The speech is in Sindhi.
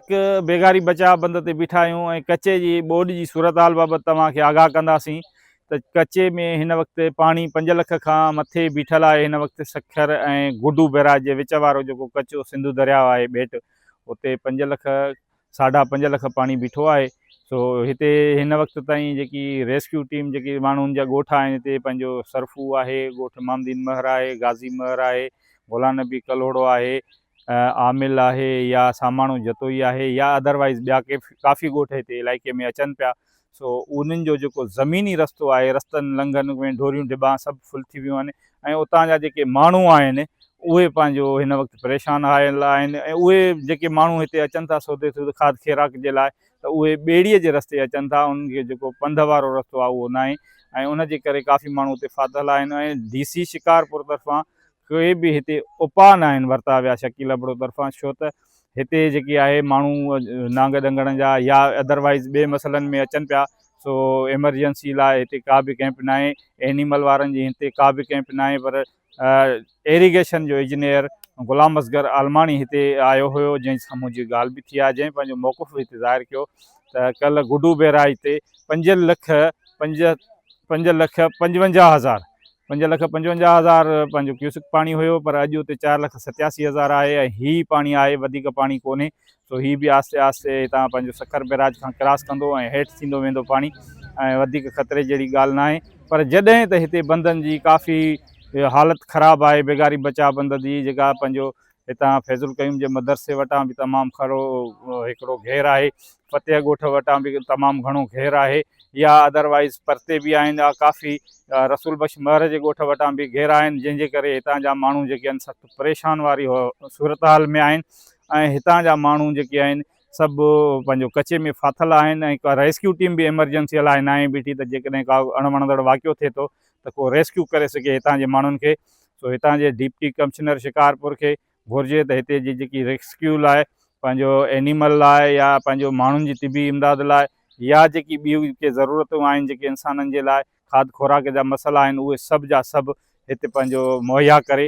هڪ بيگاري بچاء بند تي بيٺا آهيون ۽ ڪچي جي ٻوڏ جي صورتحال بابت توهان کي آگاهه ڪنداسين ته ڪچي ۾ هن وقت پاڻي پنج لک کان مٿي بيٺل آهي هن وقت سکر ۽ گڊو بئراج جي وچ وارو جيڪو ڪچو سنڌو درياء آهي ٻيٽ اتي پنج لک ساڍا پنج لک پاڻي بيٺو آهي سو هتي هن وقت تائين جيڪي ريسڪيو ٽيم جيڪي ماڻهن جا ڳوٺ آهن هتي پنهنجو سرفو آهي ڳوٺ مامدين مهر آهي غازي مهر آهي غلام نبي ڪلهوڙو آهي عامل آهي يا ساماڻو جتوئي آهي يا ادروائيز ٻيا ڪي ڪافي ڳوٺ هتي علائقي ۾ اچن پيا سو انهن جو جيڪو زميني رستو آهي رستن لنگهن ۾ ڍوريون ڍٻا سڀ فل ٿي ويون آهن ۽ اتان جا جيڪي ماڻهو آهن اهي پنهنجو هن وقت پريشان آيل آهن ۽ اهي جيڪي ماڻهو هتي اچن ٿا سودي سود کاڌ کيراڪ جي لاء ته اهي ٻيڙيء جي رستي اچن ٿا انهن کي جيڪو پنڌ وارو رستو آهي اهو ناهي ۽ ان جي ڪري ڪافي ماڻهو اتي ڦاٿل آهن ۽ ڊي سي شڪارپور طرفان ڪوئي به هتي اپاء ناهن ورتا ويا شڪيل ابڙو طرفان ڇو ته هتي جيڪي آهي ماڻهو نانگ ڏنگڻ جا يا ادر وائيز ٻي مسئلن ۾ اچن پيا سو ايمرجنسي لاء هتي ڪا به ڪئمپ ناهي اينيمل وارن جي هتي ڪا به ڪئمپ ناهي پر ايريگيشن جو اجنيئر غلام اصغر عالماڻي هتي آيو هيو جنهن سان منهنجي ڳالهه به ٿي آهي جنهن پنهنجو موقف به هتي ظاهر ڪيو ته ڪلهه گڊو بيراج تي پنج لک پنج پنج لک پنجونجاهه هزار پنج لک پنجونجاهه هزار پنهنجو ڪيوسڪ پاڻي هيو پر اڄ اتي چار لک ستياسي هزار آهي ۽ هي ئي پاڻي آهي وڌيڪ پاڻي ڪونهي سو هي به آهستي آهستي هتان پنهنجو سکر بئراج کان ڪراس ڪندو ۽ هيٺ ٿيندو ويندو پاڻي ۽ وڌيڪ خطري جهڙي ڳالهه ناهي پر جڏهن ته هتي بندن جي ڪافي حالت خراب آهي بيگاري بچاء بند جي جيڪا پنهنجو هتان فيض القيوم جي مدرسي وٽان به تمام کڙو هڪڙو گهير آهي فتح ڳوٺ وٽان به تمام گهڻو گهير آهي يا ادروائز پرتي به آهن ڪافي رسول بخش مهر جي ڳوٺ وٽان به گهير آهن جنهن جي ڪري هتان جا ماڻهو جيڪي آهن سخت پريشان واري صورتحال ۾ آهن ۽ هتان جا ماڻهو جيڪي آهن سڀ پنهنجو ڪچي ۾ ڦاٿل آهن ۽ ريسڪيو ٽيم به ايمرجنسي لاء ناهي بيٺي ته جيڪڏهن ڪا اڻ وڻندڙ واقعو ٿئي ٿو ته ڪو ريسڪيو ڪري سگهي هتان جي ماڻهن کي سو هتان جي ڊپٽي ڪمشنر شڪارپور کي گهرجي ته هتي جي جيڪي ريسڪيو لاء پنهنجو اينيمل لاء يا پنهنجو ماڻهن جي طبي امداد لاء يا جيڪي ٻيون ڪي ضرورتون آهن جيڪي انسانن جي لاء کاڌ خوراڪ جا مسئلا آهن اهي سڀ جا سڀ هتي پنهنجو مهيا ڪري